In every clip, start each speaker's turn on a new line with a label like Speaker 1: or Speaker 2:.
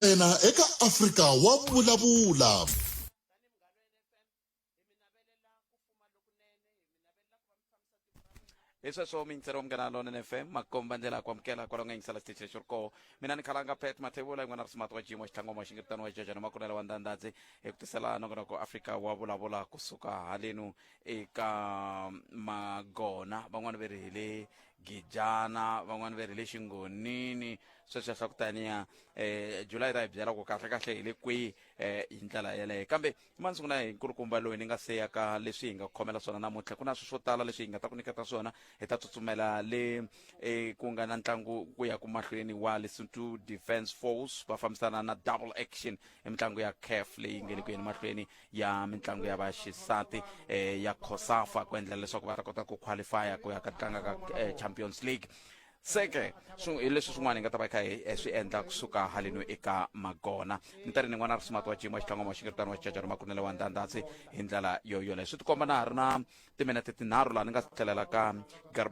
Speaker 1: Yena eka Afrika wa vulavula. hi sweswo mintserio munghana lonene fm makomba ndlela ku amukela kwalonga yingisela xitichi lexi ri koho mina ni khalanga pet mathevula yin'wana ri simati wa jimo xitlangoma xi ngiritano wa jajana makunela wa ndandadzi hi ku tisela nongonoko afrika wa vulavula kusuka halenu eka magona van'wani ve ri hi le gijana van'wani va ri le xingonini sweswiya swa ku taniya um july ra hi byela ku kahle kahle hi le kwihi um hi ndlela yeleyo kambe mani sungula hi nkulukumba loyi ni nga se ya ka leswi hi nga khomela swona namuntlha ku na swi swo tala leswi hi nga ta ku nyiketa swona hi ta tsutsumela le um ku nga na ntlangu ku ya ku mahlweni wa lesotho defense force va fambisana na double action i mitlangu ya caf leyi nge le ku yeni mahlweni ya mitlangu ya vaxisati eh, ya cosafa ku endla leswaku va ta kota ku qualifya ku ya ka tlanga ka eh, champions league seke hi leswi swin'wana hi nga ta va kha hi eh, swi endla kusuka haleno eka magona ni ta ri ni n'wana rismati wa jima xitlangwa wa xingiritano wa xijajana makunele wa ndhandhatsi hi ndlela yoyoleyo swi tikomba na ha ri na timinete tinharhu laha ni nga tlhelela ka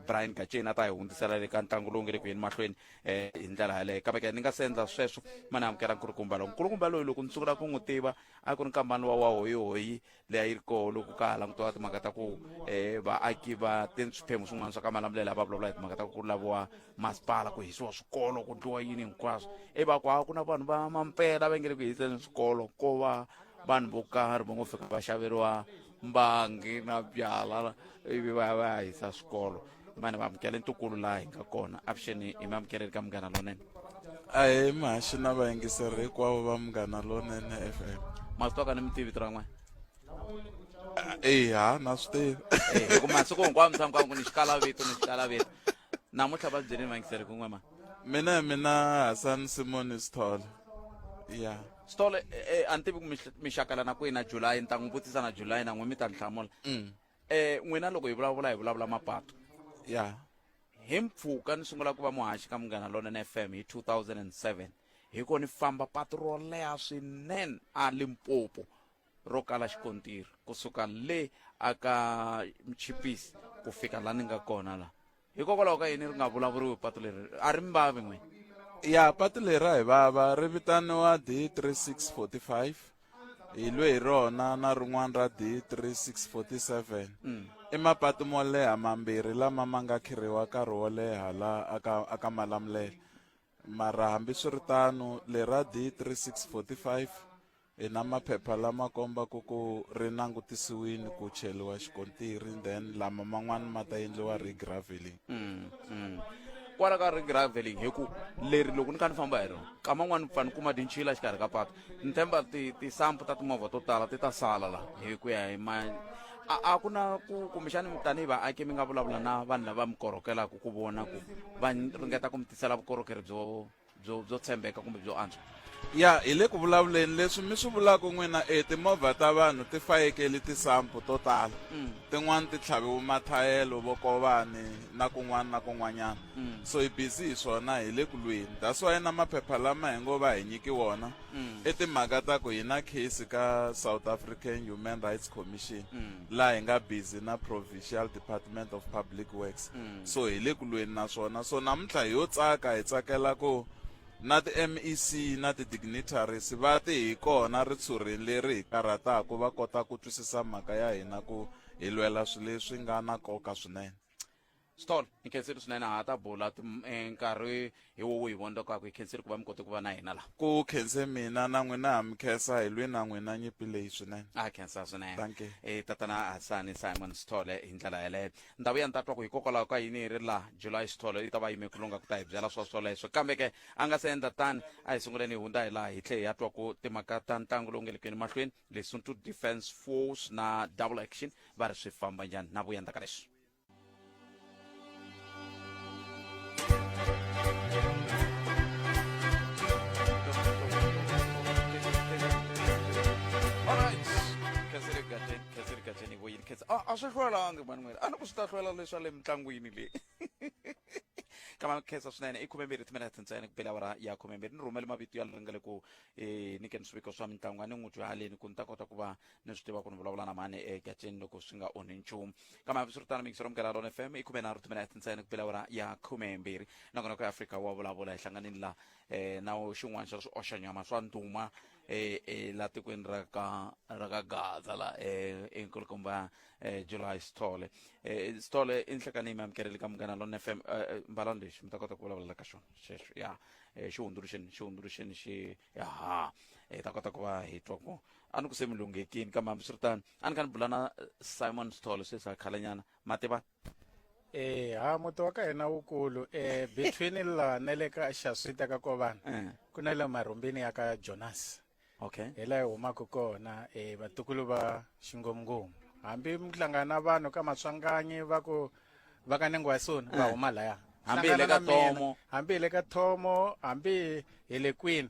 Speaker 1: brian gaceni a ta hi hundzisela le ka ntlangu lowu nge le ku yeni mahlweni um hi ndlela yaleyo kambe ke ni nga se endla sweswo ma ni amukela nkulukumba lowu nkulukumba loyi loko ni sungula ku n'wi tiva a ku ri nkambani wa wa hoyihoyi leyi a yi ri koho loko ka ha langutiwa timhaka ta ku um vaaki va te swiphemu swin'wana swa ka malamulela va vulavula hi timhaka ta ku ku laviwa masipala ku hisiwa swikolo ku ndliwa yini hinkwaswo i va ku ha ku na vanhu va mampela va nge le ku hiseni swikolo ko va vanhu vo karhi va ngo fika va xaveriwa mbangi na byala ivi va ya va ya hisa swikolo mani va amukela ntukulu laha hi nga kona avuxeni hi mi amukeleli ka munghana lonene ahe mahaxi na vayingiseri hinkwavo va munghana lonene f m ma swi twaka ni mitivi tira n'wana eya na swi tivi Eh, hi ku masiku hinkwawo mi tshama ku vangu ni xikalavito ni xikalavito namuntlha va byeleni vayingiseri kun'we ma mina hi mina hasan simon sithole ya stole eh, eh, a ni tivi ku mi hl- mi xakala na kwihi na july ni ta n'wi vutisa na july na n'we mi ta ni hlamula Mm. um n'wina loko hi vulavula hi vulavula mapatu ya hi mpfhuka ni sungula ku va muhaxi ka munghana lonene fm hi 2007 hi ko ni famba patu ro leha swinene a limpopo ro kala xikontiri kusuka le aka mchipisi ku fika la ni nga kona la hikokwalaho ka yini ri nga vulavuriwi patu leri a ri mi vavi n'wini ya patu leri a hi vava ri vitaniwa d 3645 hi lwe hi rona na rin'wana ra d 3647 mm. i mapatu mo leha mambirhi lama ma nga khirhiwa nkarhi wo leha la aka aka malamulele mara hambiswiritano lera d 3645 hi na maphepha lama kombaka ku ri langutisiwini ku cheliwa xikontiri then lama man'wani ma ta endliwa regraveling mm, mm. kwala ka regraveling hi ku leri loko ni kha ni famba hi rona ka man'wani pfa ni kuma tinchila xikarhi ka patu ni themba tisampu ta timovha to tala ti ta sala la hi ku ya hi ma a ku na ku kumbexani tanihi vaaki mi nga vulavula na vanhu lava mi korhokelaka ku vona ku va ringeta ku mi tisela vukorhokeri byo byo byo tshembeka kumbe byo antswa ya hi le ku vulavuleni leswi mi swi vulaka n'wina e timovha ta vanhu ti fayekeli tisampu to tala mm. tin'wani ti tlhaviwe mathayelo vokovani na kun'wana na kun'wanyana mm. so hi busy hi swona hi le ku lweni that's why na maphepha lama hi ngo va hi nyiki wona mm. i timhaka ta ku hi na case ka south african human rights commission laha hi nga busy na provincial department of public works mm. so hi le ku lweni na swona so namuntlha hi yo tsaka hi tsakela ku na ti-mec na ti-dignitaries va te hi kona ritshurheni leri hi karhataka va kota ku twisisa mhaka ya hina ku hi lwela swilo leswi nga na nkoka swinene stol hi khensile swinene ha ta bula tim- eh, nkarhi hi wo wihi vonda kwaku hi khensile ku va mi kote ku va na hina laha ku khense mina na n'wina ha mi khensa hi lwi na n'wina nyimpi leyi swinene a khensa swinene Thank you. e tatana hasani simon sithole hi ndlela yeleyo ndhawu ya ni ta twa ku hikokwalaho ka yini yi ri laha july sithole yi ta va yime ku lunga ku ta hi byela swa swoleswo kambe ke a nga se endla tani a hi sunguleni hi hundza hi laha hi tlhe hi ya twa ku timhaka ta ntlangu lowu nga le kweni mahlweni lesotho defense force na double action va ri swi famba njhani na vuya ndzaka leswi a swi hlwelanga manuel a ni ku swi ta hlwela leswa le mitlangwini leyi ka makhensa swinene i khumembirhi timinete ntsena ku bela wara ya khumembirhi ni rhumele mavito ya leri nga le ku um nyikeni swiviko swa mitlangu a ni n'wi byaleni ku ni ta kota ku va ni swi tiva ku ni vulavula na mani egaceni loko swi nga onhi nchumu kambe hambiswiritano mikisero mukela lona fm i khume nharhu timinete ntsena ku pela ya khumembirhi nakona ku afrika wa vulavula hi hlanganini la um na xin'wana xa swi oxanyama swa nduma um eh, eh, la tikweni ra ka ra ka gaza la um enkulukumba um july sithole um sithole i nhlekani mi amukeleli ka munghana lona fm mbalani lexi mi ta kota ku vulavula ka xona xexo ya um xi hundzuluxeni xi hundzuluxeni xi yaha hi ta kota ku va hi twa ku a ni ku se mi lunghekini kambe hambiswiritano a ni ka ni bula na eh, simon stolo sweswi a khalanyana ma tiva Eh, ha muti wa ka hina wukulu eh between la na le ka xaswita ka kovana Eh. ku na le marhumbini ya ka jonas okay hi laha hi humaka kona eh vatukulu va xingomngomu hambi mi hlangana na vanhu ka matswanganyi va ku va ka nengwasoni va Eh. huma laya Hambi hi le ka Hlangana na mina. Thomo. hambi hi le ka thomo hambi hi le kwini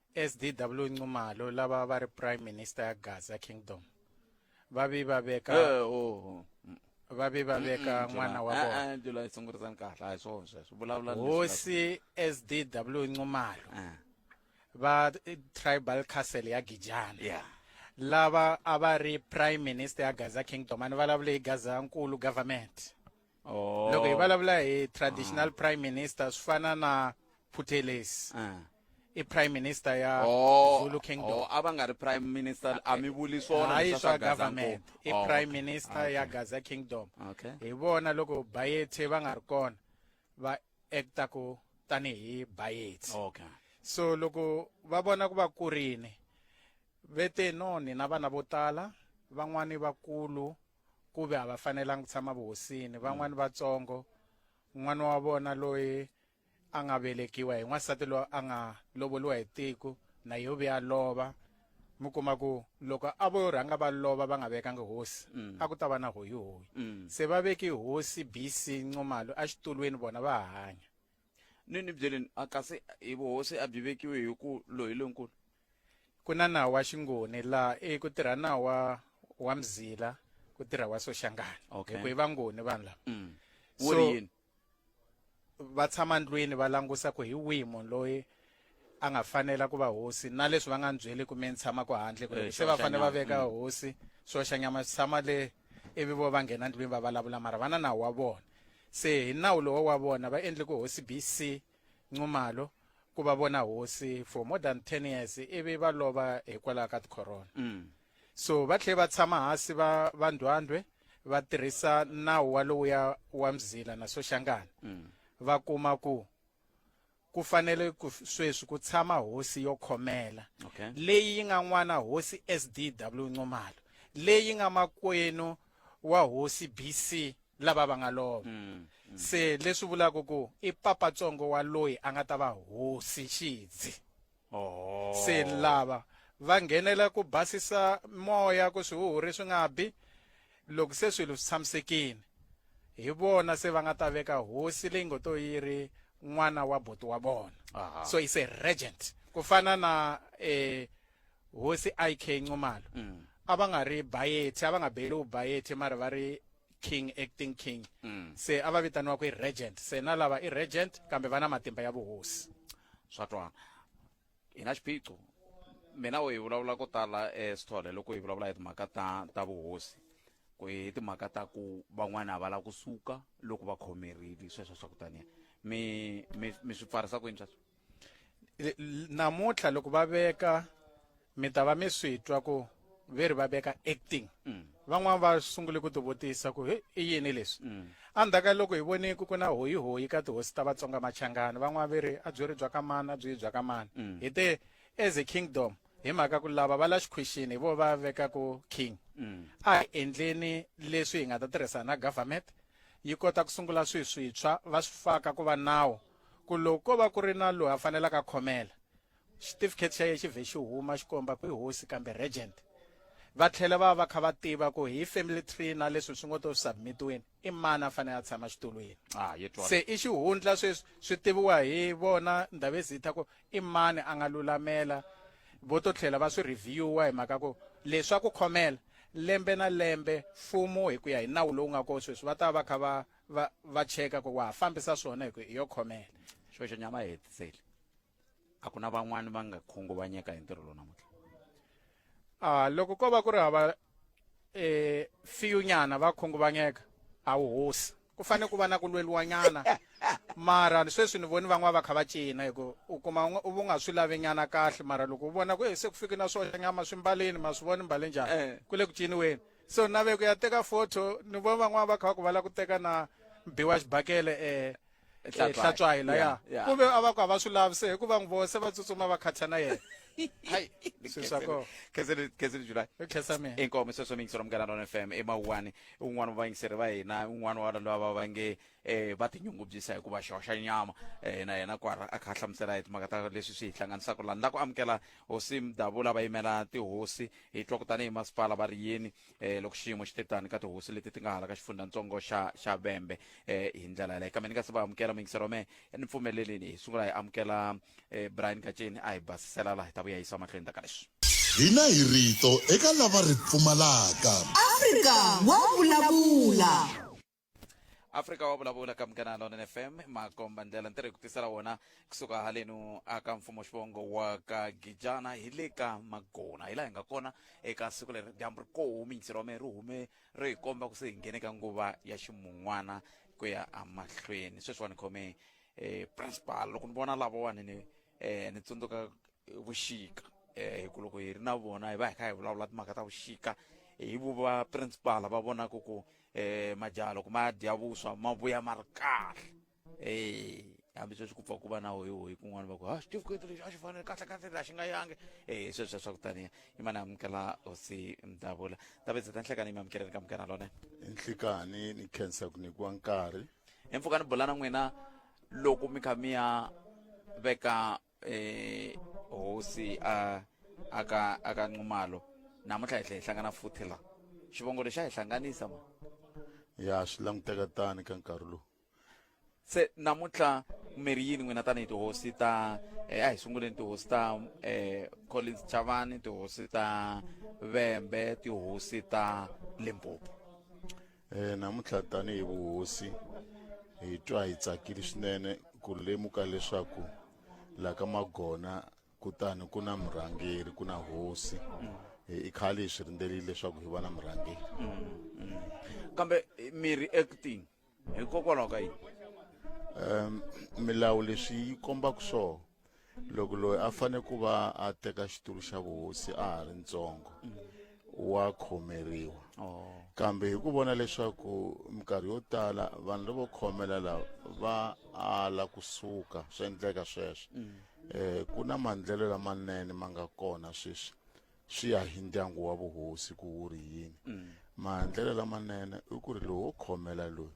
Speaker 1: SDW Nxumalo lava va ri prime minister ya Gaza Kingdom va vi va veka Eh, oh. Mm, va vi va veka mm, n'wana wa July. vona Eh, eh, July sungurisani kahle a hi swona sweswo vulavula leswi hosi SDW Nxumalo nga- Ah, va eh, tribal castle ya Gijana yeah lava a va ri prime minister ya Gaza Kingdom a ni vulavule hi Gaza nkulu government oh. loko hi vulavula hi traditional ah. prime minister swi fana na phutelesi ah. i prime minister ya oh, zulu kingdom oh, a va nga ri prime minister a mi vuli swonaayi swa government i oh, prime okay. minister okay. ya gaza kingdom okay. hi vona loko bayethe va nga ri kona va acta ku tanihi bayethe okay. so loko va vona ku va kurini ve te no nina vana vo tala van'wani vakulu ku ve a va fanelanga ku tshama vuhosini van'wani mm. vatsongo n'wana wa vona loyi a nga velekiwa hi n'wansati loyi a nga lovoliwa hi tiko na yo ve a lova mi kuma ku loko a vo rhanga va lova va nga vekanga hosi mm. a ku ta va na hoyihoyi mm. se va veki hosi bc ncomalo exitulwini vona va hanya ni ni byeleni a kasi hi vuhosi a byi vekiwe hi ku loyi lonkulu ku na nawu wa xingoni laha i ku tirha nawu wa wa mzila ku tirha wa soxangana Okay. hikuva i vangoni vanhu lava mm. wu So- ri yini va tshama ndlwini va langusa ku hi wihi munhu loyi a nga fanela ku va hosi na leswi va nga ni byeli ku mi ni tshama ku handle ku eh, se va fanele va veka mm. hosi swoxanyama swi tshama le ivi vo va nghena ndlwini va vulavula mara va na nawu wa vona se hi nawu lowo wa vona va endle ku hosi bc nxumalo ku va vona hosi for more than ten years ivi va lova hikwalaho ka tikhorona mm. so va tlhele va tshama hansi va va ndwandwe va tirhisa nawu wa lowuya wa mzila na soxangana mm. va kuma ku ku fanele ku sweswi ku tshama hosi yo khomela Okay. leyi yi nga n'wana hosi SDW Nxumalo leyi nga makwenu wa hosi BC lava va nga lova Mm. se leswi vulaka ku i papatsongo wa loyi a nga ta va hosi xidzi oh. se lava va nghenela ku basisa moya ku swihuhuri swi nga bi loko se swilo swi tshamisekile hi vona se va nga ta veka hosi leyi ngo to yi ri n'wana wa buti wa vona so is a regent ku fana na eh hosi IK Nxumalo mm. a va nga ri bayethi a va nga beli u bayethi mara va ri king acting king mm. se a va vitaniwa ku i regent se na lava i regent kambe va na matimba ya vuhosi swa twana hi na xiphiqo mina u hi vulavula ko tala esithole loko hi vulavula hi timhaka ta ta vuhosi ku hi timhaka ta ku van'wana a va lava ku suka loko va khomerile sweswo swa ku taniya mi mi mi swi pfarisa kwini sweswo namuntlha loko va veka mi ta va mi swi twa ku ve ri va veka acting mm. van'wana va sungule ku tivutisa ku i yini leswi mm. endzhaku ka loko hi vone ku ku na hoyihoyi ka tihosi ta vatsonga machangani van'wana ve ri a byi ri bya ka mani a byi bya ka mani mm. hi te as a kingdom hi mhaka ku lava va la xikhwixini hi vo va vekaku king a hi endleni leswi hi nga ta tirhisana na government yi kota ku sungula swi swintshwa va swi faka ku va nawu ku loko ko va ku ri na loyi a fanelaka khomela Xitifikheti xa ye xi vhe xi huma xi komba ku i hosi kambe regent. Va tlhela va va va kha va tiva ku hi family tree na leswi swi ngo to submit-iweni i mani a fanele a tshama xitulwini. Ah, hi twala. Se i xihundla sweswi swi tiviwa hi vona Ndabezitha ku i mani a nga lulamela. Vo to tlhela va swi review-a hi mhaka ku leswi swa ku khomela, lembe na lembe mfumo hi ku ya hi nawu lowu nga kona sweswi va ta va va kha va va va cheka ku wa ha fambisa swona hi ku i yo khomela. Xoxo nyama a hi hetiseli. a ku na van'wani va nga khunguvanyeka hi ntirho lowu namuntlha a loko ko va ku ri hava eh fiyunyana va khunguvanyeka a wu hosi ku fanele ku va na ku lweliwanyana mara sweswi ni voni van'wana va kha va cina hi ku u kuma un'we- u nga swi lavi nyana kahle mara loko u vona ku "Eh, se ku fike na swoxa nyama swi mbalini ma swi voni mbale njhani Eh. ku le ku ciniweni so nave ku ya teka photo ni vona van'wana va kha va ku va la ku teka na biwa xibakele eh hlatswayila eh, ya ku ve a va ku a va swi lavi se hikuva n'wi vose va tsutsuma va khatha na yena khesele july inkomo sweswo mi yingisela munghana rona fm emawuwani un'wana wa vayingiseri va hina un'wana wa lava va va nge um va tinyungubyisa hi ku va xoxa nyama um na yena kwara a kha a hlamusela hi timhaka ta leswi swi hi hlanganisaka lani la ku amukela hosi mdavula va yimela tihosi hi twa ku tanihi masipala va ri yini eh, loko xiyimo xi te tani ka tihosi leti ti nga hala ka xifundzatsongo xa xa vembe eh, hi ndlela yaleyo kambe ni nga se va amukela mingisero me ni pfumelelini hi sungula hi amukela eh, brian gaceni a hi basisela laha hi ta vuya yisa mahlweni ta ka leswi hina hi rito eka lava ri pfumalaka afrika wa vulavula afrika wa vulavula ka munghana lona fm makomba ndlela ntirho hi ku tisela wona kusuka halenu aka mfumo xivongo wa ka gijana hi le ka magona hi laha hi nga kona eka siku leri dyambu ri komi ntsiro wa mehe ri hume ri hi komba ku se hi nghene ka nguva ya ximun'wana ku ya emahlweni sweswiwani khome eh, principal loko ni vona lavawani ni eh, ni tsundzuka vuxika eh hi ku loko hi ri na vona hi va hi kha hi vulavula timhaka ta vuxika hi vu va principal va vonaka ku eh majaha loko ma dya vuswa ma vuya ma ri kahle eh hambi sweswi ku pfa ku va na hoyi hoyi kun'wana va ku ha xitifiketi lexi a xi fanele kahle kahle la xi nga yangi eh sweswo swa ku taniya i mani amukela hosi mdavula ndavetse ta nhlekani mi amukeleni ka mukana lone nhlikani ni khensa ku nyikiwa nkarhi empfukani bolana n'wina loko mi kha mi ya veka eh hosi a aka aka nxumalo namuntlha hi tlhe hi hlangana futhi la xivongo lexi a hi hlanganisa ma ya swi languteka tani ka nkarhi lowu se namuntlha mirhi yini n'wina tanihi tihosi ta eh, a hi sunguleni tihosi ta um collins chavani tihosi ta vembe tihosi ta limpopo E, namuntlha tanihi vuhosi hi twa hi tsakile swinene ku lemuka leswaku la ka magona kutani ku na murhangeri ku na hosi e, i khale hi swi rindzerile leswaku hi va na murhangeri kambe eh, mi reacting hikokwalaho ka yini um milawu leswi yi kombaka swona loko loyi a fane ku va a teka xitulu xa vuhosi a ha ri ntsongo wa khomeriwa oh. kambe hi ku vona leswaku minkarhi yo tala vanhu lavo khomela lava va ala kusuka swi endleka sweswo um ku na mandlelo lamanene ma nga kona sweswi swi ya hi ndyangu wa vuhosi ku wu ri yini mm. mahandlelo lamanene i ku ri lowo khomela loyi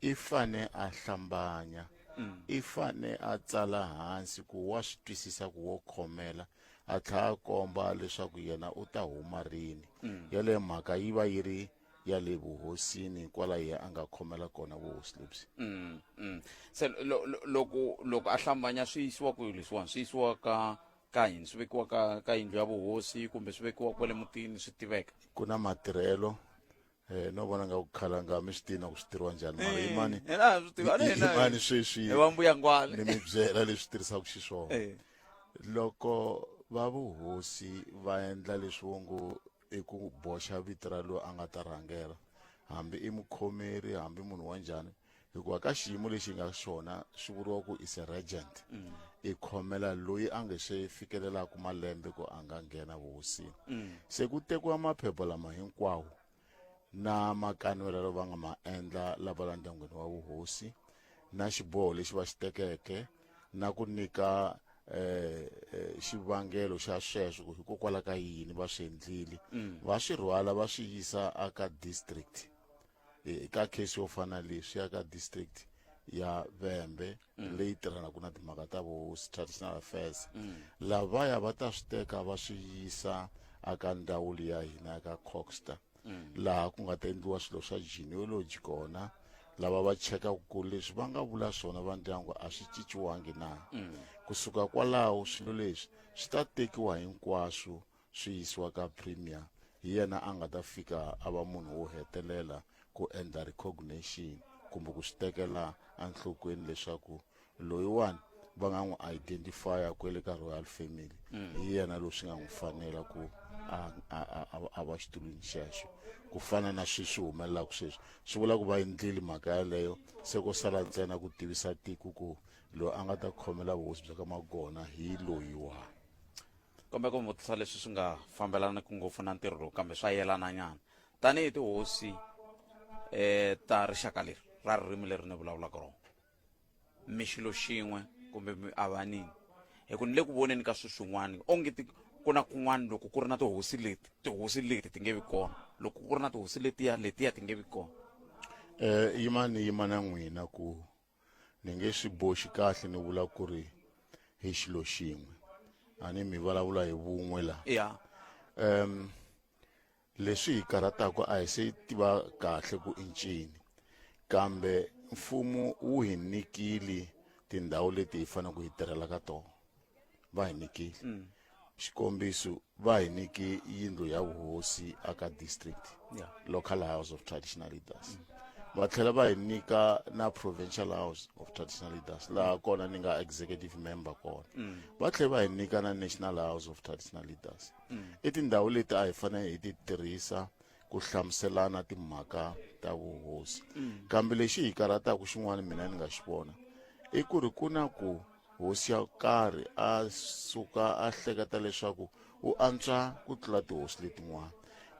Speaker 1: i fane a hlambanya mm. i fane a tsala hansi ku wa swi twisisa ku wo khomela a tlhela a komba leswaku yena u ta huma rini mm. yaleyo mhaka yi va yi ri ya le vuhosini kwala ye a nga khomela kona vuhosi lebyi mm, mm. se loko loko a hlambanya swi yisiwa ku leswiwani swi yisiwa ka ka yini swi vekiwa ka ka yindlu ya vuhosi kumbe swi vekiwa kwale mutini swi tiveka ku na matirhelo eh no vona nga ku khala nga mi swi tiva ku swi tirhiwa njhani mara eh, yimani yimani sweswi va mbuya ngwale ni mi byela leswi tirhisaka xiswona eh. loko va vuhosi va endla leswi wo ngo i ku boxa vito ra loyi a nga ta rhangela hambi i mukhomeri hambi munhu wa njhani hikuva ka xiyimo lexi nga xona swi vuriwa ku is a regent mm. i khomela loyi a nge se fikelelaka malembe ku a nga nghena vuhosini mm. se ku tekiwa maphepha lama hinkwawo na makanwela lava nga ma endla lava la ndyangwini wa vuhosi na xiboho lexi va xi tekeke na ku nyika eh, eh xivangelo xa sweswo hikokwalaho ka yini va swi endlile mm. va swi rhwala va swi yisa aka district e, ka case yo fana leyi swi ya ka district ya vembe mm. leyi tirhanaka na timhaka ta vo traditional affairs mm. lavaya va ta swi teka va swi yisa aka ndawulo ya hina ya ka coxter mm. laha ku nga ta endliwa swilo swa genealogy kona lava va chekaka ku leswi va nga vula swona va ndyangu a swi cinciwangi na mm. kusuka kwalaho swilo leswi swi ta tekiwa hinkwaswo swi yisiwa ka premier hi yena a nga ta fika a va munhu wo hetelela ku endla recognition kumbe ku swi tekela enhlokweni leswaku loyiwani va nga n'wi identifya kwele ka royal family mm. hi yena loyi swi nga n'wi fanela ku a va xitulwini xexo ku fana na swi swi humelelaka sweswi swi vula ku va endlile mhaka yaleyo se ko sala ntsena ku tivisa tiko ku loyi a nga ta khomela vuhosi bya ka magona hi loyiwani kombeka u vutisa leswi swi nga fambelaniki ngopfu na ntirho lowu kambe swa yelananyana tanihi tihosi um ta rixaka leri ra ririmi leri ni vulavulaka rona mi xilo xin'we kumbe mi avanini hi ku ni le ku voneni ka swilo swin'wana onge ti ku na kun'wana loko ku ri na tihosi leti tihosi leti ti nge vi kona loko ku ri na tihosi letiya letiya ti nge vi kona um yimani yimana n'wina ku ni nge swi boxi kahle ni vula ku ri hi xilo xin'we a ni mi vulavula hi vun'we laha ya um leswi hi karhataka a hi se tiva kahle ku i ncini kambe mfumo wu hi nyikile tindhawu leti hi faneleke hi tirhela ka tona va hi nyikile mm. xikombiso va hi nyike yindlu ya vuhosi aka district yeah. local house of traditional leaders mm. va tlhela va hi nyika na provincial house of traditional leaders laha mm. kona ni nga executive member kona mm. va tlhela va hi nyika na national house of traditional leaders mm. i tindhawu leti a hi fanele hi ti tirhisa ku hlamuselana timhaka ta vuhosi mm. kambe lexi hi karhataka xin'wana mina ni nga xi vona i ku ri ku na ku Hosi ya karhi a suka a hleketa leswaku u antswa ku tlula tihosi letin'wana.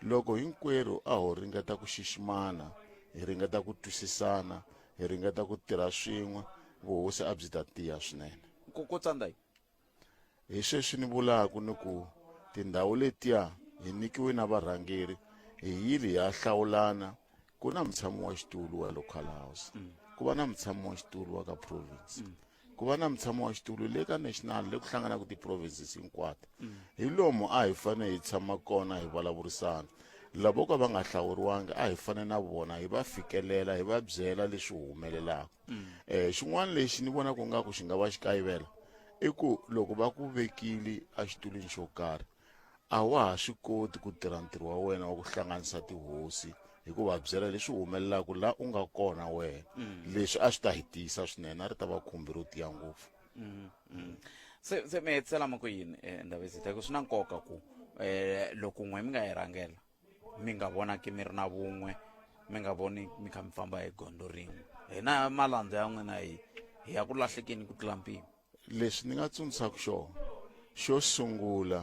Speaker 1: Loko hinkwerhu a ho ringeta ku xiximana, hi ringeta ku twisisana, hi ringeta ku tirha swin'we, vuhosi a byi ta tiya swinene. Nkokotsandayi. Hi sweswi ni vulaka ni ku tindhawu letiya hi nikiwe na varhangeri, hi yile hi ya hlawulana ku na mutshami wa xitulu wa local house mm. ku va na mutshami wa xitulu wa ka province mm. ku va na mutshami wa xitulu le ka national le ku hlanganaka ti-provinces hinkwato mm. hi lomu a hi fanele hi tshama kona hi vulavurisana lavo ka va nga hlawuriwangi a hi fane na vona hi va fikelela hi va byela leswi humelelaka um xin'wana lexi ni vona ku nga ku xi nga va xi kayivela i ku loko va ku vekile exitulwini xo karhi a wa ha swi koti ku tirha ntirho wa wena wa ku hlanganisa tihosi hi ku va byela leswi humelelaka la u nga kona wena mm. leswi a swi ta hi tiyisa swinene a ri ta va khumbi ro tiya ngopfu mm, mm. se se mi hetisela ma ku yini um eh, ndhavezita ku swi na nkoka ku um loko n'we mi nga yi rhangela mi nga vonaki mi ri na vun'we mi nga voni mi kha mi famba hi gondo rin'we hina malandza ya n'wina hi hi ya ku lahlekeni ku tlula mpimo lexi ni nga tsundzuxaka xona xo sungula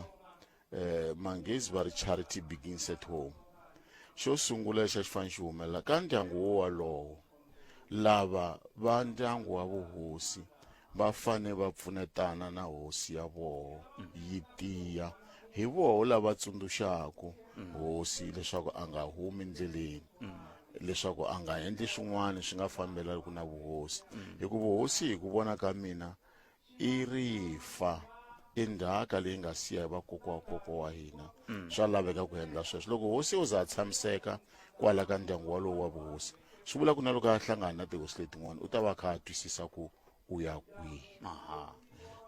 Speaker 1: eh manghezi va ri charity begins at home xo sungula lexi a xi fanele xi humelela ka ndyangu wo walowo lava va ndyangu wa vuhosi va fane va pfunetana na hosi ya voho yi tiya hi voho lava tsundzuxaku hosi leswaku a nga humi ndleleni leswaku a nga endli swin'wana swi nga fambelaniku na vuhosi mm. hi ku vuhosi hi ku vona ka mina i rifa i ndzhaka leyi nga siya hi vakokwa wa koko wa hina mm. swa laveka ku endla sweswo loko hosi u za a tshamiseka kwala ka ndyangu walowo wa vuhosi swi vula ku na loko a hlangana na tihosi letin'wana u ta va kha a twisisa ku u ya kwihi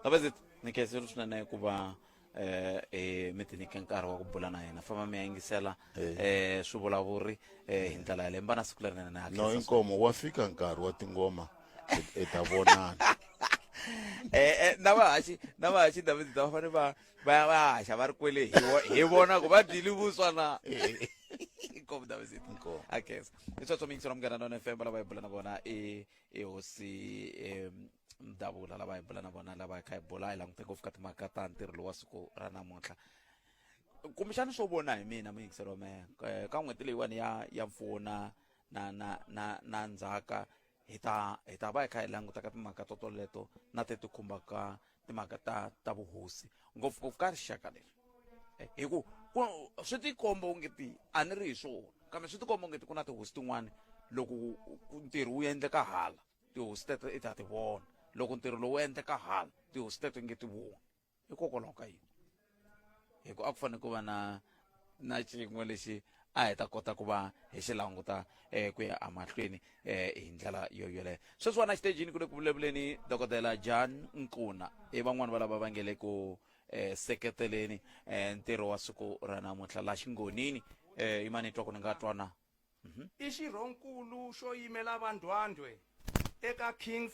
Speaker 1: kaveze nikhethe ri swinene ku va eh, emitliliniki ya nkarhi wa ku bula na yena famba mi ya yingisela Eh. eh, swi vulavuri eh, hi ndlela yaleyo mbana siku lerinene na no i nkomo wa fika nkarhi wa tingoma hi- hi ta vonana Eh, eh, na vahaxi na vahaxi david va fane va va va haxa va ri kwele hi vo- hi vona ku va dyile vuswa na inkomu david Inkomu. akes i sweswo miyingiselo munghana nona fm lava hi bula na vona i i hosi em, davula lava hi bula na vona lava hi kha hi bula hi langute ngopfu ka timhaka ta ntirho lowa siku ra namuntlha kumbexana swo vona hi mina muyingiselo me eh, ka n'hweti leyiwani ya ya mpfuna na na na na ndzhaka hi ta hi ta va hi kha hi languta ka timhaka to toleto na te ti khumbaka timhaka ta ta vuhosi ngopfungopfu ka rixaka leri eh, hi ku swi tikomba u nge ti a ni ri hi swona kambe swi tikomba u nge ti ku na tihosi tin'wana loko ntirho wu endleka hala tihosi teto i ti ha ti vona loko ntirho lowu endleka hala tihosi teto nge ti voni hikokwalaho ka yini hi ku a ku fanele ku va na na xin'we lexi a hi ta kota ku va hi xi languta um ku ya emahlweni um hi ndlela yo yoleyo sweswiwana xitejini ku le ku vulavuleni dokodela john nkuna i van'wani va lava va nge le ku um seketeleni um ntirho wa siku ra namuntlha la xingonini um imani twa ku ni nga twana i xirhonkulu xo yimela vandwandwe eka kings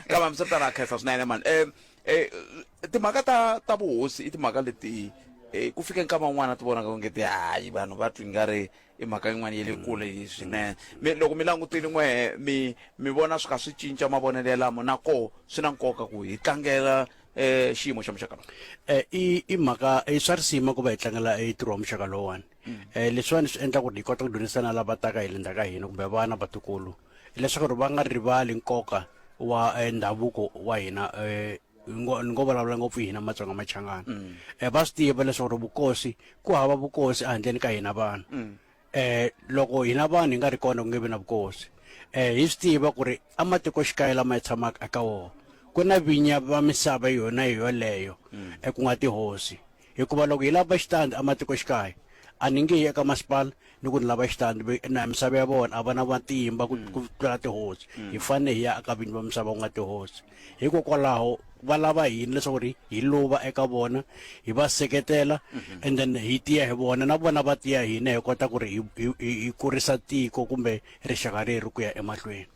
Speaker 1: kama mi swi vitana a khensa swinene mani um um timhaka ta ta vuhosi i timhaka leti um ku fike nkama un'wana ti vonaka onge ti hayi vanhu va twi nga ri i mhaka yin'wana ya le kule swinene mi loko mi langutile n'we mi mi vona swi kha swi cinca mavonelo yalamo na koho swi na nkoka ku hi tlangela um xiyimo xa muxaka lowu um i i mhaka i swa risima ku va hi tlangela i ntirho wa muxaka lowuwani um leswiwani swi endla ku ri hi kota ku dyondzisana lava taka hi le ndzhaku ka hina kumbe vana vatukulu hileswaku ri va nga rivali nkoka wa eh, ndhavuko wa hina eh, ni ngo vulavula ngopfu hina matsonga machangana um mm. eh, va swi tiva leswaku ri vukosi ku hava vukosi ehandleni ka hina vanhu um mm. loko hina vanhu hi nga ri kona ku nge vi na vukosi um hi swi tiva ku ri ematikoxikaya lama hi tshamaka eka wona ku na vinya va misava yona hi yoleyo um ku nga tihosi Hikuva loko hi lava xitandi ematikoxikaya, a ni nge yi eka masipala ni ku ni lava xitandi, ve, na misava ya vona a va na matimba ku, ku tlula tihosi. Hi fanele hi ya eka vinyi va misava ku nga tihosi. Hikokwalaho va lava hina leswaku ri hi luva eka vona, hi va seketela, and then hi tiya hi vona, na vona va tiya hi hina hi kota ku ri hi, hi, hi, hi kurisa tiko kumbe rixaka reri ku ya emahlweni.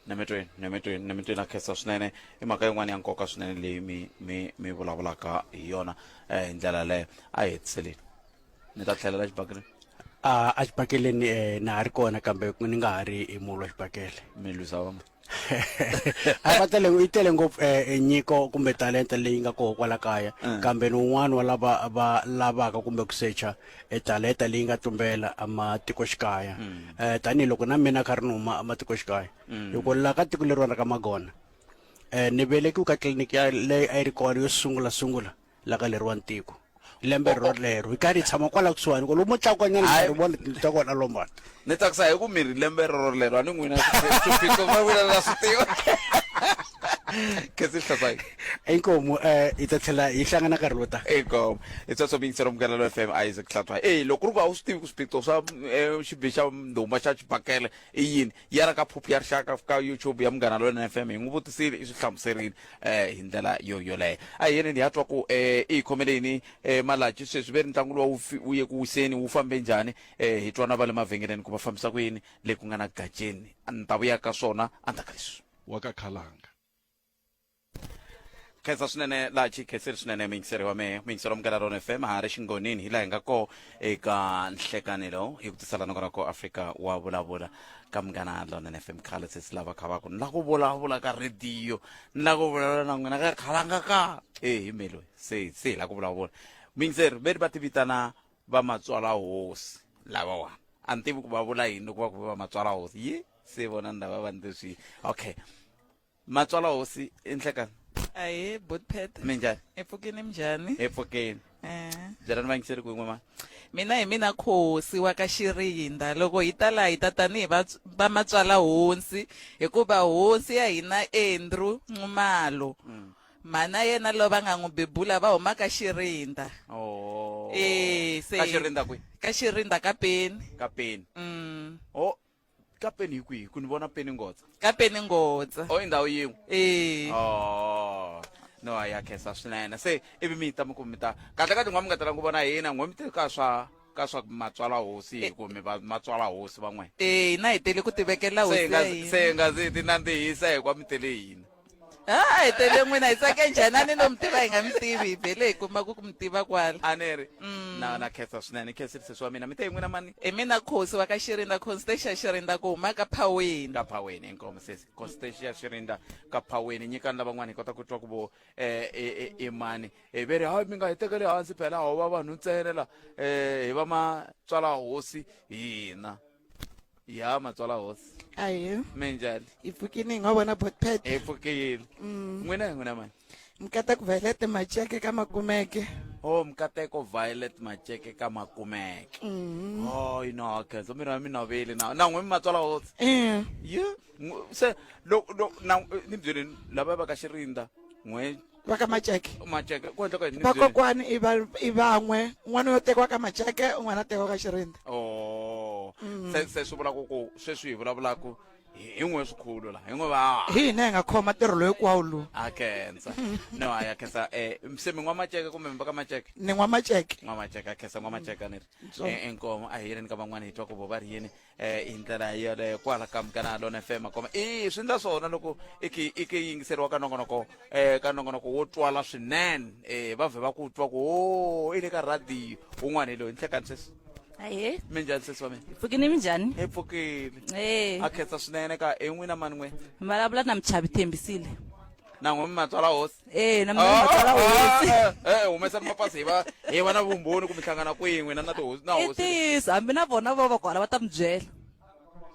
Speaker 1: nemetweni nemetweni nemetweni a khensa swinene i mhaka yin'wana ya nkoka swinene leyi mi mi mi vulavulaka hi yona um hi ndlela yaleyo a hi hetiseleni ni ta tlhelela xibakele a a xibakeleni um na ha ri kona kambe ni nga ha ri hi mulu wa xibakele mi lwisa vama a va tele yi tele ngopfu um nyiko kumbe talenta leyi nga koho kwala kaya kambe ni un'wana wa lava va lavaka kumbe ku secha e taleta leyi nga tumbela ematikoxikaya um tanihiloko na mina kha ri ni huma ematikoxikaya hikuva laha ka tiko leriwana ra ka magona um ni velekiwe ka tliliniki ya leyi a yi ri kona yo sungula sungula la ka leriwani tiko lembe ro lero yi karhi yi tshama kwala kusuhani ko lomu tlakukanyana ri vona tindlu ta kona lombana Ni tsakisa hi ku mi ri lembe rorolero a ni n'wina swiphiqo va vula la swi tiva. Kasi hlasayi. Inkomo eh hi ta tlhela hi hlangana nkarhi wo ta. Inkomo. Hi tsatso mi yingisela munghana lo FM Isaac Hlasayi. Eh loko ku ri ku a wu swi tivi ku swiphiqo swa eh, xibi xa ndhuma xa xibakele i yini ya ra ka phuphu ya rixaka ka YouTube ya munghana lo FM hi n'wi vutisile i swi hlamuserile eh hi ndlela yo yoleyo. A hi yeleni hi ya twa ku eh i hi khomele yini eh malachi sweswi ve ntlangu lowu wu fi- wu ye ku wiseni wu fambe njhani Eh, hi twana va le mavhengeleni ku va fambisa ku yini le ku nga na gaceni a ni ta vuya ka swona endzhaku ka leswi wa ka khalanga khensa swinene laha chi khenseri swinene muyingiseri wa mehe muyingiseri wa mugala rona fm ha ri xingonini hi laha hi nga koo eka nhlekanelo hi ku tisela noko ra ko afrika wa vulavula ka munghana lonene fm khale se si lava khavaku ni la ku vulavula ka rhediyo ni la ku vulavula na n'wina ka khalanga ka e hi melo se se hi la ku vulavula muyingiseri ve ri va ti vitana va matswala hosi lavawa a ni tivi ku va vula yini loko va ku va matswala hosi yi se vona ni lava va ni leswi okay matswala hosi i nhlekani ahee botpet mi njhani hi pfukini minjhani hi pfukeni Eh. byela ni vangiseri ku yin'we ma mina hi mina khosi wa ka xirinda loko hi ta laha hi ta tanihi vats- va matswala hosi hikuva hosi ya hina andrew nxumalo mhana yena loyi va nga n'wi bebula va huma ka xirinda oh. e, se, ka xirinda kwi ka xirinda ka peni ka peni mm. oh ka peni hi kwihi ku ni vona peni ngotsa ka peni ngotsa o oh, i ndhawu yin'we e. oh no a ya khensa swinene se ivi mi ta mi ku mi ta kahle ka tin'wa mi nga tala ku vona hina n'we mi te ka swa ka swa matswala hosi hi ku mi matswala hosi van'we e hina hi tele ku tivekela hosi se nga se nga zi ti nandzihisa hi kwa mi tele hina ha hi tele n'wina hi tsake njhani a ni lo mi tiva hi nga mi tivi hi vhele hi kuma ku ku mi tiva kwala a ni ri mm. na na khetsa swinene khensile sesi wa mina mi te hi n'wina mani i mina khosi wa ka xirinda constatia xirinda ku huma ka phaweni ka phaweni inkomo sesi constatia xirinda ka phaweni nyikani lavan'wana hi kota ku twa ku vo eh, i e, e, e mani hi ve ri hayi mi nga hi tekeli hansi phela ho va vanhu ntsene la um hi va matswala hosi hina ya matswala hosi aye minjhani yi pfukile hi nga vona botpet hi pfukile mm. n'wina hi n'wina mani mkateko violet macheke ka makumeke o oh, mkateko violet macheke ka makumeke o mm. oh, yi no khenso miri wa mi noveli na na n'wi mi matswala hosi eh. ye se ni byeleni lava va ka xirinda n'we va ka maceke maceke ku endleka yini ni byeli? vakokwani i va- i van'we n'wana yo tekiwa ka maceke un'wana a tekiwa ka xirindza Oh. se se swi vula ku ku sweswi hi vulavulaka hi hi n'we swikhulu la hi n'we va hi hina hi nga khoma ntirho loyi kwawu lowu a khensa no a ya khensa um se mi nwa maceke kumbe mi va ka maceke ni n'wa maceke nwa maceke a khensa nwa maceke a ni ri Ntsongo. e- enkomo a hi yeleni ka van'wana hi twa ku vo va ri yini eh hi ndlela yoleyo kwala ka mukana lona fm koma i swi ndla swona loko i ki- i ki yingiseriwa ka nongonoko eh ka nongonoko wo twala swinene eh va vhe va ku twa ku o i le ka radiyo un'wana hi loyi nhlekani sesi ahe mi njhani sesi wa mina pfukini mi njhani hi pfukile e a khetsa swinene ka en'wina mani n'we vulavula na muchavi thembisile nangwe mi matswala hosi Eh, na mina Ah, matsala ah, hosi. ah, eh, humesani mapasi hi va hi va na vumbhoni ku mi hlangana kwin'we na na tihosi na I hosi ntiyiso hambi na vona va va kwala va ta mi byela.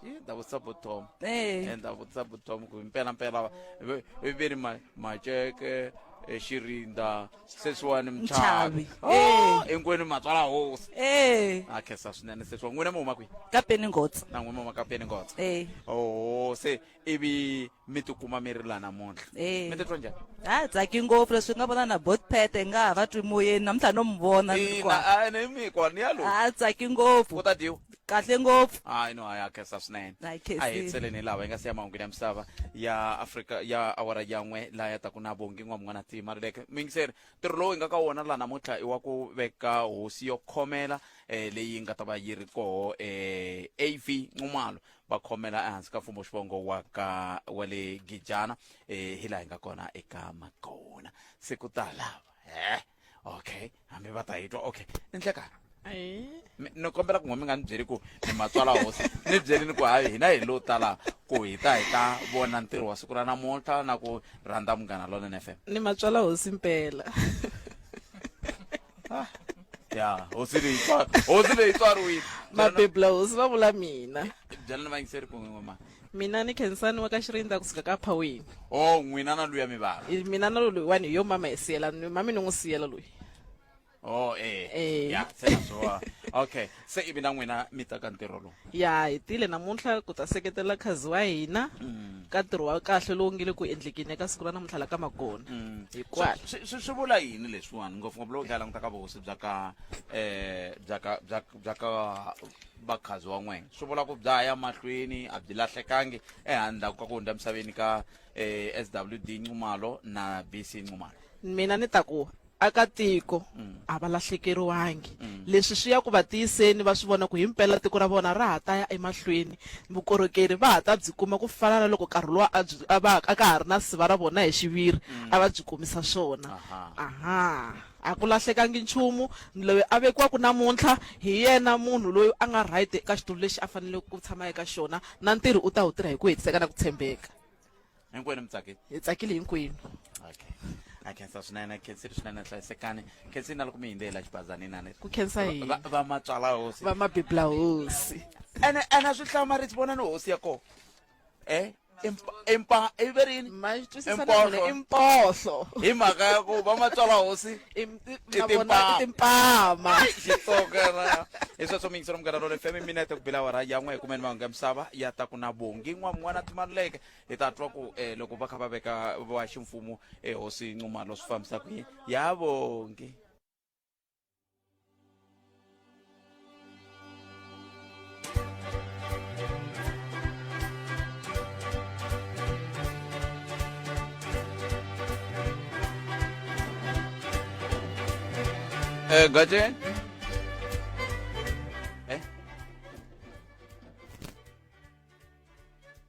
Speaker 1: Yi, ni ta vutisa botom Eh. ni ta vutisa botom ku mpelampela va- ve- ve ve ri ma- maceke eh, xirinda sweswiwani Mchavi. mchavi Oh, hinkwenu matswala hosi Eh, a khensa swinene sweswiwa n'wina mi huma kwihi ka Peningotsa. na n'wina mi huma ka peni ngotsa Eh. oho se ivi mi tikuma mi ri la namuntlha Eh. mi titwa njhani ha tsaki ngopfu leswi nga vona na botpete nga ha va twi moyeni namuntlha no mi vona ni ri kwa. ina a ni mi kwa ni ya loyi ha tsaki ku ngopfu ta dyiwa kahle ngopfu hayi no hayi akhensa swinene Ha yi khensile. a hi hetseleni lava yi nga siya mahungwini ya misava ya afrika ya awara yan'we laha ya taku na vongi n'wa mun'wana tima ri leke mingiseri ntirho lowu hi nga ka wona laha namuntlha i wa ku veka hosi yo khomela um leyi nga ta va yi ri koho um av nxumalo va khomela ehansi ka mfumo xivongo wa ka wa le gijana eh, hi laha hi nga kona eka makona se ku ta lava he okay hambi va ta hi twa okay ni nhlekani Ayi. Mi- ni kombela ku n'we mi nga ni byeli ku ni matswala hosi ni byelini ku hayi hina hi lo tala ku hi ta hi ta vona ntirho wa siku ra namuntlha na ku rhandza munghana lonene fm ni matswala hosi mpela ya hosi leyi tswari hosi leyi tswariwile mabebla hosi va vula mina byela ni vayingiseri ku n'we mama mina ni khensani wa ka xirindza kusuka ka phawini o n'wina na luya mivala I- mina na loyi wani hi yo mama hi siyela ni- mami ni n'wi siyela loyi o e Eh. ya se na swo okay se ivi na n'wina mi ta ka ntirho lowu ya hi tile namuntlha ku ta seketela khazi wa hina mm. ka ntirho wa kahle lowu nge le ku endlekeni eka siku ra namuntlha la ka makona mm. hikwalo swi vula yini leswiwani ngopfungopfu loko hi tlhela languta ka vuhosi bya ka um bya ka bya bya ka vakhazi wa n'wena swi vula ku bya ya mahlweni a byi lahlekangi ehandlaku ka ku hundza emisaveni ka um eh, s w d ncumalo na b c ncumalo mina ni ta ku Vaakatiko a va lahlekeriwangi. Leswi swi ya ku va tiyiseni va swi vona ku himpela tiko ra vona ra ha ta ya emahlweni. Vukorhokeri va ha ta byi kuma ku fana na loko nkarhi luwa a byi a va a ka ha ri na siva ra vona hi xiviri a va byi kumisa swona. Aha, a ku lahlekangi nchumu. Loyi a vekiwaka namuntlha hi yena munhu loyi a nga right eka xitulu lexi a faneleke ku tshama eka xona na ntirho u ta wu tirha hi ku hetiseka na ku tshembeka. hinkwenu mi tsake hi tsakile hinkwenu okay a khensa swinene khensile swinene hlayisekani khensile na loko mi hindze hi la xibazani inani ku khensa hi va va matswala hosi va mabibla hosi ene ene a swi hlamarisi vona ni hosi ya kona e impa i ve rini ma twisisa na Imphohlo. vona i mpohlo hi mhaka ya ku va matswala hosi I m- i- na timpama. vona i timpama xitsongana hi sweswo mi yingisela munghana role fm minete ku bila wara yan'we hi kumeni mahungu ya misava ya ta ku na vongi n'wa mun'wana a timaluleke hi ta twa ku eh, loko va kha va veka va ximfumo ehosi eh, nxumalo swi fambisa ku yini ya vongi Eh, Gajen?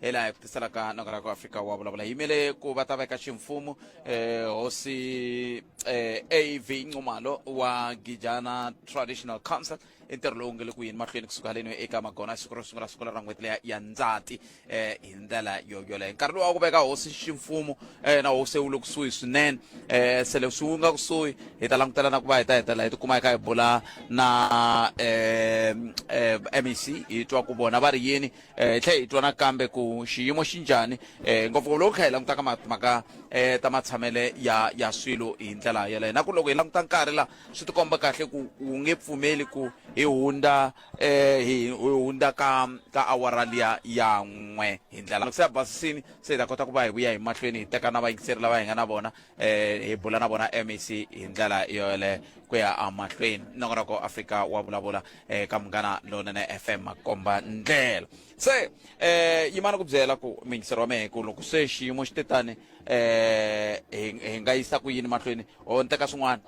Speaker 1: hi laha hi ku tiselaka noko ra ku afrika wa vulavula yimele ku va ta veka ximfumu eh, hosi eh, av ncumalo wa gijana traditional council i ntirho lowu nge le ku yini mahlweni kusuka haleni eka magona siku ro sungula sungula ra n'hweti leya ya ndzati eh, hi ndlela yo yoleyo nkarhi lowu wa ku veka hosi ximfumu eh, na hosi wu le kusuhi swinene eh, se leswi wu nga kusuhi hi ta langutela na ku va hi ta hetelela hi tikuma hi kha hi bula na eh, eh, mec hi twa ku vona va ri yini eh, hi tlhe hi twa nakambe ku xiyimo xi njhani eh, ngopfungopfu loko kha hi langutaka mhaka eh, ta matshamele ya ya swilo hi ndlela yeleyo na ku loko hi languta nkarhi laha swi tikomba kahle ku wu nge pfumeli ku hi hundza eh, hi hundza ka ka awara liya ya n'we hi ndlela se ya basisini se hi ta kota ku va hi vuya hi mahlweni hi teka na vayingiseri lava hi nga na vona um hi bula na vona mec hi ndlela yoyeleyo ku ya emahlweni nongonoko afrika wa vulavula eh ka munghana lonene fm makomba ndlela se eh yimana ku byela ku mingisero wa mehe ku loko se xiyimo xi te tani eh hi hi nga yisa ku yini mahlweni o ni teka swin'wana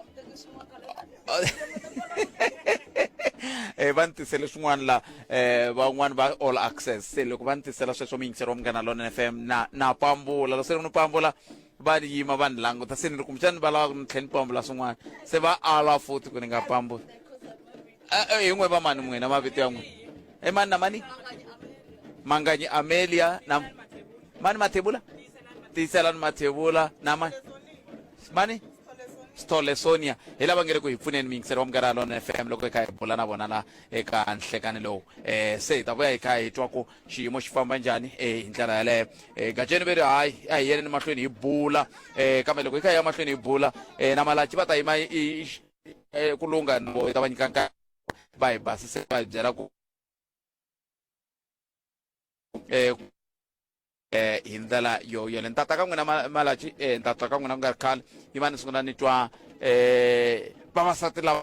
Speaker 1: eh va ni tisele swin'wana la eh van'wani va all access se loko va ni tisela sweswo mingisero wa munghana lonene fm na na pambula loko se ni pambula va ni yima va ni languta se ni ri kumbexani va lava ku ni tlhe ni pambula swin'wana se va ala futhi ku ni nga pambuli Eh, eh, hi n'we va mani n'wina mavito ya n'wina i mani na mani manganyi amelia na mani mathebula tiyiselani mathebula na mani mani sithole sonia hi lava nge ri ku hi pfuneni miyingiseri wa mugara lona fm loko hi kha hi bula na vona la eka nhlekani lowu um se hi ta vuya hi kha hi twa ku xiyimo xi famba njhani e hi ndlela yaleyo e gajeni ve ri hayi a hi yeleni mahlweni hi bula um kambe loko hi kha hi ya mahlweni hi bula um na malachi va ta yima e, ku lungha na vo hi ta va nyika nkarhi va hi basise va hi byela ku um eh hi ndlela yo yele ni tata ka n'wina malachi eh ni tata ka n'wina ku nga ri khale yi va ni sungula ni twa eh vavasati lava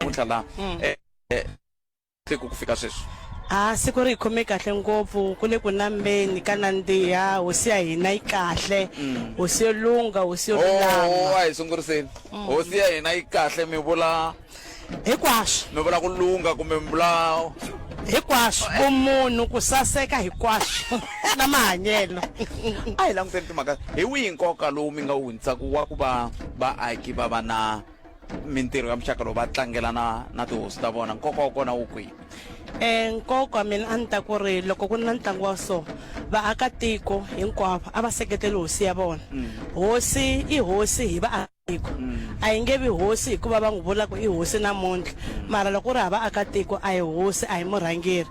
Speaker 1: namuntlha laha mm. eh, eh, siku ku fika sweswi a siku ri hi khome kahle ngopfu ku le ku nambeni ka nandziha hosi ya hina yi kahle mm. hosi yo lungha hosi yo oh, lulama a hi sunguriseni mm. hosi ya hina yi kahle mi vula hinkwaswo mi vula ku lungha kumbe mi vula hinkwaswo vumunhu ku saseka hinkwaswo na mahanyelo a hi languteni timhaka hi wihi nkoka lowu mi nga wu hundzisaka wa ku va vaaki va va na mintirho ya muxaka lowu va tlangela na na tihosi ta vona nkoka wa kona wu kwihi e nkoka mina a ni ta ku ri loko ku ri na ntlangu wa so vaakatiko hinkwavo a va seketeli hosi ya vona mm. hosi i hosi hi vaakatiko mm. a yi nge vi hosi hikuva va n'wi vula ku i hosi namuntlha mm. mara loko u ri ha vaakatiko a hi hosi a hi murhangeri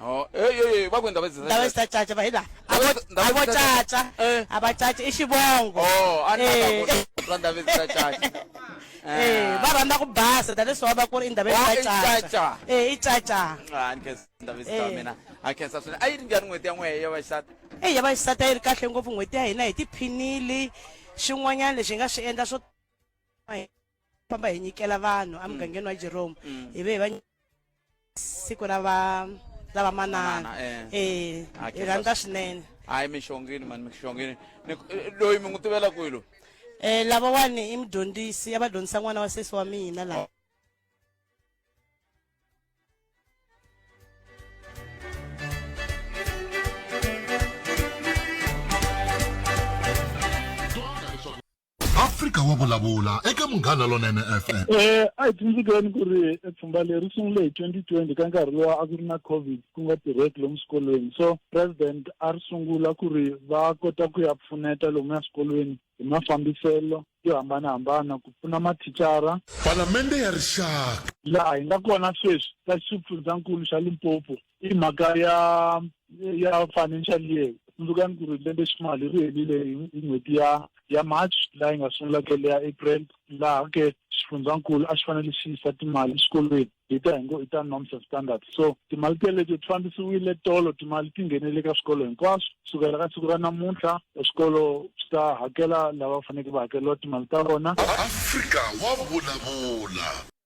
Speaker 1: Oh, hey, hey, hey, va ku ndhawu ndzi ndhawu ta caca va hi laha a vo Ndhawu- ndhawu a vo ta caca. caca Eh. a va caca i xivongo Oh, a ni Eh. lava ku twa ndhawu ta caca. Eh, va rhandza ku basa tanihileswi va va ku ri i ndhawu Oh, ta i caca caca. Eh, i caca Ah, ni khensa ndhawu ta Eh. mina. A khensa swinene. A yi ri njhani n'hweti ya n'wehe ya vaxisati? eyi ya vaxisati a yi ri kahle ngopfu n'hweti ya hina hi tiphinile xin'wanyana lexi hi nga swi endla swo famba hi nyikela vanhu mm. emugangeni wa jerome mm. hi ve hi va siku ra va ra vamanana eh. eh, hi rhandza swinene hayi mixongini mani mixongini eh, loyi mi n'wi tivela kwilo um lavawani i mudyondzisi ya va dyondzisa n'wana wa sesi wa mina laha Afrika wa vulavula eka Munghana Lonene FM. Eh, a hi tsundzukeni ku ri eh, pfhumba leri sungule hi 2020 ka nkarhi lowa a ku ri na covid ku nga tirheki lomu swikolweni so president a ri sungula ku ri va kota ku ya pfuneta lomu ya swikolweni hi mafambiselo yo hambanahambana ku pfuna mathicara Palamende ya Rixaka. laha hi nga kona sweswi ka xifundzankulu xa Limpopo i mhaka ya ya financial year tsundzuka ni ku ri lembe ximali ri helile hi n'hweti ya ya march laha yi nga sungula ke leya april laha ke xifundzankulu a xi fanele xi yisa timali exikolweni hi ta hi ngo i ta norms and standards so timali teleto ti fambisiwile tolo timali ti nghenele ka swikolo hinkwaswo kusukela ka siku ra namuntlha swikolo swi ta hakela lava faneleke va hakeriwa timali ta vona afrika wa vulavula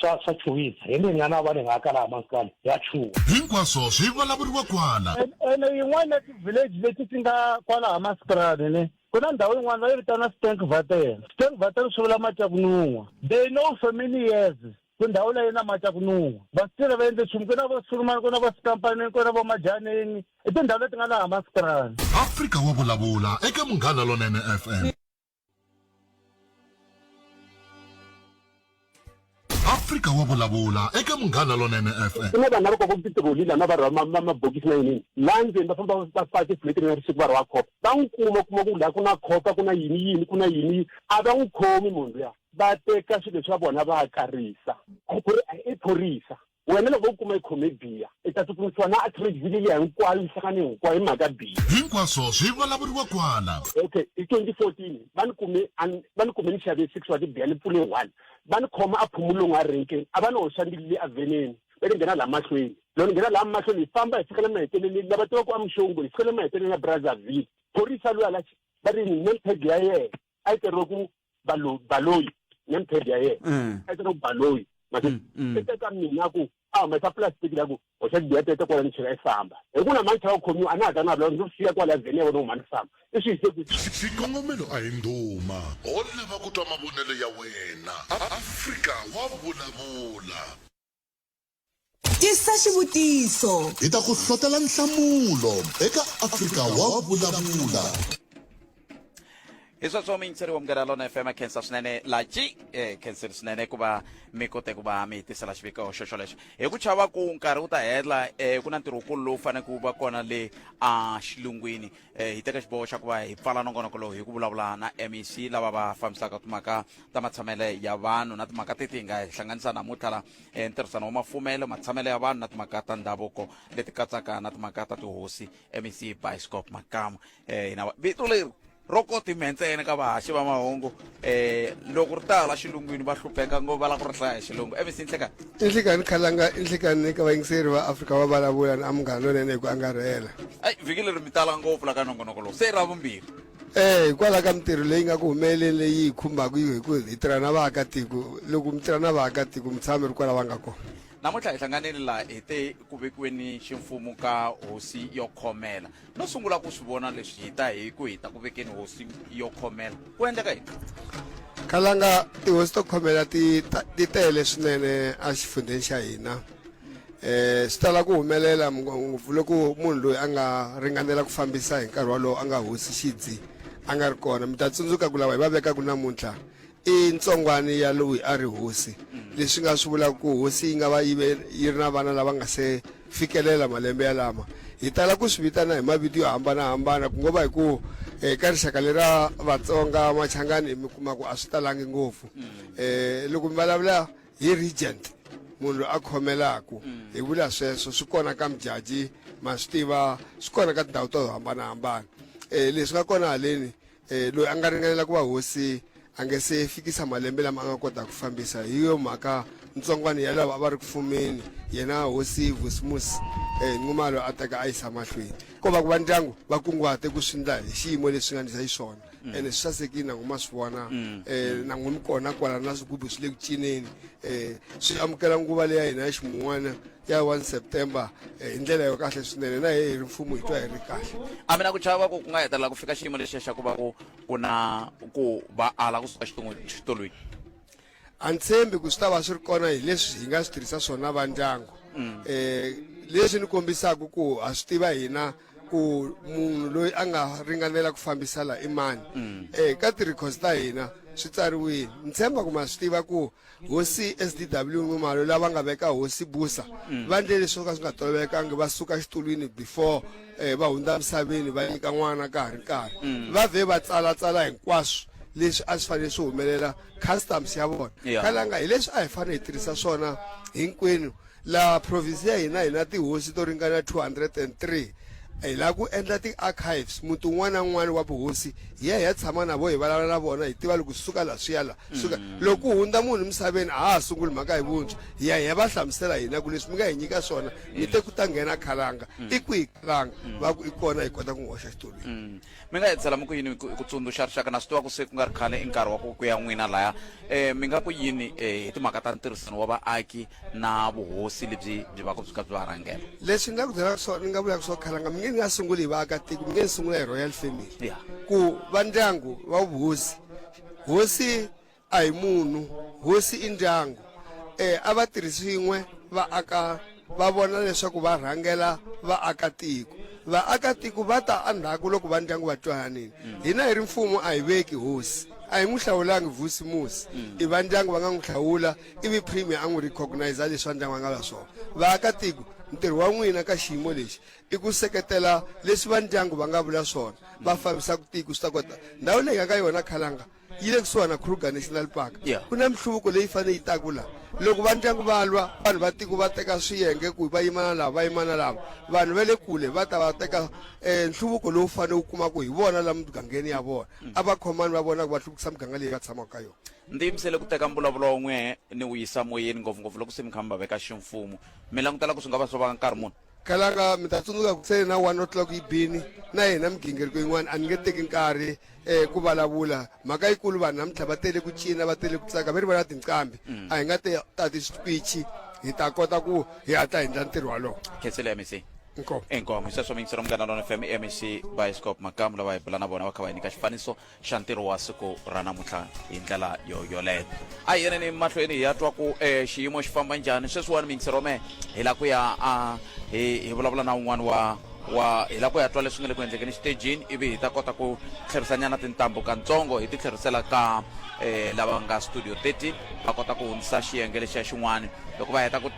Speaker 1: swa swa chuwisa hi nge nyana va ni nga kala maskani ya chuwa hinkwaswo swi vulavuriwa kwala ene yin'wana ya ti-village leti ti nga kwala ha maskrani ne ku na ndhawu yin'wana va yi vitana stank vatel stank vatel swi vula mati ya ku nun'wa they know for many years ku ndhawu leyi na mati ya ku nun'wa va swi tirha va endle nchumu ku na vo sulumani ku na vo sikampanini ku na vo majaneni i tindhawu leti nga laha maskrani afrika wa vulavula eka munghana lonene fm afrika wa vulavula eka munghana lonene fm ku na vanhu lava koko titiroli lana va rhwa mabokisi na yinini laha ndzeni va famba va faka tifuleti na risiku va rhwa khopa va n'wi kuma kuma ku laha ku na khopa ku na yini yini ku na yini a va n'wi khomi munhu luya va teka swilo swa vona va karisa i phorisa Wena loko u kuma i khome biya, i ta tsutsumisiwa na artery vhiki liya hinkwayo yi hlangane hinkwayo hi mhaka biya. Hinkwaswo swi vulavuriwa kwala. Okay, hi 2014 va ni kume a ni va ni kume ni xave six wa tibiya ni pfule one. Va ni khoma a Phumulong a renkeni, a va ni hoxa ni le avheneni va ni nghena laha mahlweni. Loko ni nghena laha mahlweni hi famba hi fika le maheteleleni, lava tivaka ku a Mxongo hi fika le maheteleleni ya Brazzaville, phorisa luya la va ri ni name tag ya yena. a yi teriwe ku balo baloyi name tag ya yena Mm. a yi teriwe ku baloyi mase Mm, mm. i teka mina ku a humesa plastic la ku hoxa tibiya tete kwala ni chela i famba hi ku na mancha wa khomiwa a na ha ta na vula ndzi siya kwala vheni ya vona huma ni famba i swi yise ku xikongomelo a hi ndhuma ho lava ku twa mavonelo ya wena A- afrika wa vulavula tisa xivutiso hi ta ku hlotela nhlamulo eka afrika wa vulavula hi sweswo miyingiseri wa mugera lona fm khensa swinene laci eh, khenseri swinene ku va mi kote ku va mi hi tisela xiviko xo xolexo hi ku chava ku nkarhi wu ta hela um ku na ntirho wukulu lowu faneleke wu va kona le a xilungwini eh, hi teka xiboho xa ku va hi pfala nongonoko lowu hi ku vulavula na mec lava va fambisaka timhaka ta matshamele ya vanhu na timhaka teti hi nga hi hlanganisa namuntlha la eh, ntirhisano wa mafumelo matshamele ya vanhu na timhaka ta ndhavuko leti katsaka na timhaka ta tihosi mec bioscope makamu eh, hina va- vito leri ro koti mhe ntsena ka vahaxi va mahungu eh loko ri ta la xilungwini va hlupheka ngo va la ku ri hlaya xilungu evi sinhlekani inhlekani khalanga inhlekani eka vayingiseri va afrika va vulavula ni amungani lonene hi ku angarhela ai vhiki leri mi tala ngopfu la ka nongonoko lowu se ra vumbirhi eh hikwalaho ka mintirho leyi nga ku humeleleni leyi hi khumbaka hi ku hi tirha na vaakatiko loko mi tirha na vaakatiko mi tshama mi ri kwala va nga kona namuntlha hi hlanganile laha hi te ku vekiweni ximfumo ka hosi yo khomela no sungula ku swi vona leswi hi ta hi ku hi ta ku vekeni hosi yo khomela ku endleka yini khalanga tihosi to khomela ti ta- ti tele swinene exifundzheni xa hina um swi tala ku humelela ngopfu loko munhu loyi a nga ringanela ku fambisa hi nkarhi wolowo a nga hosi xidzi a nga ri kona mi ta tsundzuka ku lava hi va vekaka namuntlha I ntsongwani ya loyi a ri hosi, leswi nga swi vulaka ku hosi yi nga va yi ve yi ri na vana lava nga se fikelela malembe yalama. Hi tala ku swi vitana hi mavito yo hambana-hambana, ku ngo va hi ku eka rixaka leri ra Vatsonga, Machangani mi kuma ku a swi talangi ngopfu. Loko mi vulavula hi regent, munhu loyi a khomelaku, hi vula sweswo. Swi kona ka Modjadji, ma swi tiva, swi kona ka tindhawu to hambana-hambana. Leswi nga kona haleni, E, loyi a nga ringanela ku va hosi a nge se fikisa malembe lama a nga kota ku fambisa hi yo mhaka ntsongwana ya lava a va ri ku fumeni yena hosi vosimus um e, nxumalo a teka a yisa mahlweni ko va ku va ndyangu va kunguhate ku swi ndla hi xiyimo leswi nga ndlisa hi swona mm. ene swi sasekile nangu ma swi vona um nangu mi kona kwala na swigubu swi le ku cineni um swi amukela nguva leya hina ya ximun'wana ya 1 september eh, hi ndlela yo kahle swinene na hi ri mfumo hi twa hi ri kahle a mina ku chava ku ku nga hetelela ku fika xiyimo lexiya xa ku va ku ku na ku va ala kusuka xitolweni a ni tshembi ku swi ta va swi ri kona hi leswi hi nga swi tirhisa swona va ndyangu um leswi ni kombisaka ku ha swi tiva hina ku munhu loyi a nga ringanela ku fambisa la i mani um ka ti-records ta hina swi tsariwile ni tshemba ku ma swi tiva ku Hosi SDW Nxumalo lava nga veka hosi Busa mm. va ndle leswi swo ka swi nga tolovelekanga va suka xitulwini before eh, va hundza misaveni va nyika n'wana ka ha ri nkarhi mm. va vhe va tsalatsala hinkwaswo leswi a swi fanele swi humelela customs ya vona kalanga hi leswi a hi fanele hi tirhisa swona hinkwenu Laha province ya hina hi na tihosi to ringana 203. Hi lava ku endla ti-archives, muti wun'wana na wun'wana wa vuhosi hi ya hi ya tshama na vona, hi vulavula na vona, hi tiva loko suka laha swi ya laha, suka loko ku hundza munhu emisaveni a ha ha sunguli mhaka hi vuntshwa, hi ya hi ya va hlamusela hina ku leswi mi nga hi nyika swona mi te ku ta nghena khalanga, i kwihi khalanga, va ku i kona hi kota ku n'wi hoxa xitulwini. Mi nga edzela mi ku yini ku ku tsundzuxa rixaka? Na swi tiva ku se ku nga ri khale i nkarhi wa ku ku ya n'wina laya. E, mi nga ku yini e, hi timhaka ta ntirhisano wa vaaki na vuhosi lebyi byi vaka byi kha byi va rhangela? Leswi ni nga ku byelaka swona ni nga vulaka swona khalanga mi nge ni nga sunguli hi vaakatiko mi nge ni sungula hi royal family Yeah. ku va ndyangu va vuhosi hosi A hi munhu, hosi i ndyangu. E a va tirhi swin'we va aka va vona leswaku va rhangela vaakatiko. Vaakatiko va ta endzhaku loko va ndyangu va twananile. Hina hi ri mfumo a hi veki hosi. A hi n'wi hlawulangi vusi musi. I va ndyangu va nga n'wi hlawula ivi Premier a n'wi recogniser leswi va ndyangu va nga va swona. Vaakatiko, ntirho wa n'wina ka xiyimo lexi i ku seketela leswi va ndyangu va nga vula swona va fambisaka tiko swi ta kota. Ndhawu leyi hi nga ka yona Khalanga yi le kusuhana kruger national park yeah. ku na minhluvuko leyi fanele yi taku la loko va ndyangu va lwa vanhu va tiko va teka swiyenge ku va yimana lava va yimana lava vanhu va le kule va ta va teka um nhluvuko lowu fanele wu kumaka hi vona la mugangeni ya vona mm. a va khomani va vona ku va hluvukisa muganga leyi va tshamaka ka yona ndzi yimisele ku teka mbulavulo wun'we ni wu yisa moyeni ngopfungopfu loko se mi kha mi va veka ximfumo mi langutela ku swi nga va swo va nkarhi muni kalanga mi ta tsundzuka ku sele na one o'clock yi bini na yena migingiriko yin'wana a ni nge teki nkarhi um ku vulavula mhaka yikulu vanhu namuntlha va tele ku cina va tele ku tsaka va ri vona tinqambi a hi nga te tati switwichi hi ta kota ku hi hatla hi endla ntirho walowo khetsele mec inkomo inkomo hi sweswo mingisero munghana lona fm mec bioscope makamu lava hi bula na vona va kha va hi nyika xifaniso xa ntirho wa siku ra namuntlha hi ndlela yo yoleyo a hi yeneni mahlweni hi ya twa ku e xiyimo xi famba njhani sweswiwani mingiserome hi la ku ya a hi hi vulavula na un'wana wa wa hi la ku ya twa leswi nga le ku endlekeni xitejini ivi hi ta kota ku tlherisanyana tintambu kantsongo hi ti tlherisela ka um lava nga studio 30 va kota ku hundzisa xiyenge lexiya xin'wana loko va heta ku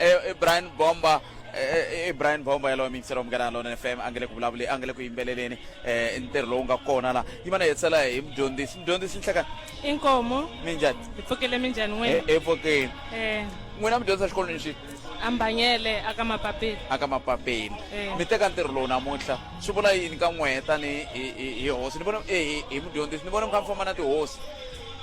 Speaker 1: i brian bomba i brian bomba yalowo mingiselo munghana lona fm a nge le ku vulavuleni a nge le ku yimbeleleni um ntirho lowu nga kona la yi va na hetsela hi mudyondzisi mudyondzisi nhleka i nkomo minjhani hi pfukele minjhani n'wina hi pfukeni um n'wina mudyondzisa exikolweni xi ambanyele aka mapapeni aka mapapeni Eh. mi teka ntirho lowu namuntlha swi vula yini ka n'wehe tani hi- hi hi hosi ni vona hi- hi hi mudyondzisi ni vona mi kha mi famba na tihosi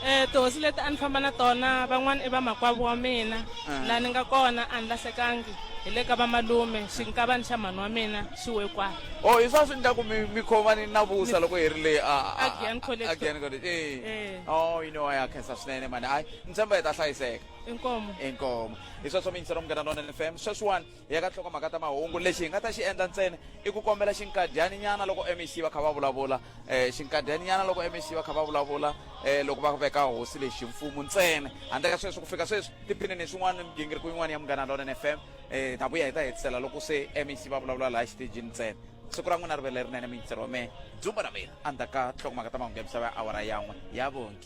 Speaker 1: um tihosi leti a ni famba na tona van'wana i vamakwavo wa mina ah. laha ni nga kona a ni lahlekangi hi le ka vamalume xinkavani xa mhani wa mina xi wekwana o oh, hi swa swi ni ta ku mi khomani na vusa loko hi ri le agian college e eh. o oh, you know a ya khensa swinene mani hayi ni tshemba hi ta hlayiseka inkomo inkomo hi sweswo mi yingisela munghana lona n f m sweswiwani hi ya ka nhlokomhaka ta mahungu lexi hi nga ta xi endla ntsena i ku kombela xinkadyani nyana loko mec va kha va vulavula um xinkadyani nyana loko mec va kha va vulavula um loko va veka hosi leyi ximfumo ntsena handle ka sweswo ku fika sweswi tiphinini swin'wana ni migingiriko yin'wana ya munghana lona n f m um ta vuya hi ta hetisela loko se mec va vulavula laha xitejini ntsena siku ra n'wina ri ve lerinene miyitsero wa mehe dzumba ra mina endzhaku ka nhlokomhaka ta mahungu ya misava ya awara yan'we ya vongi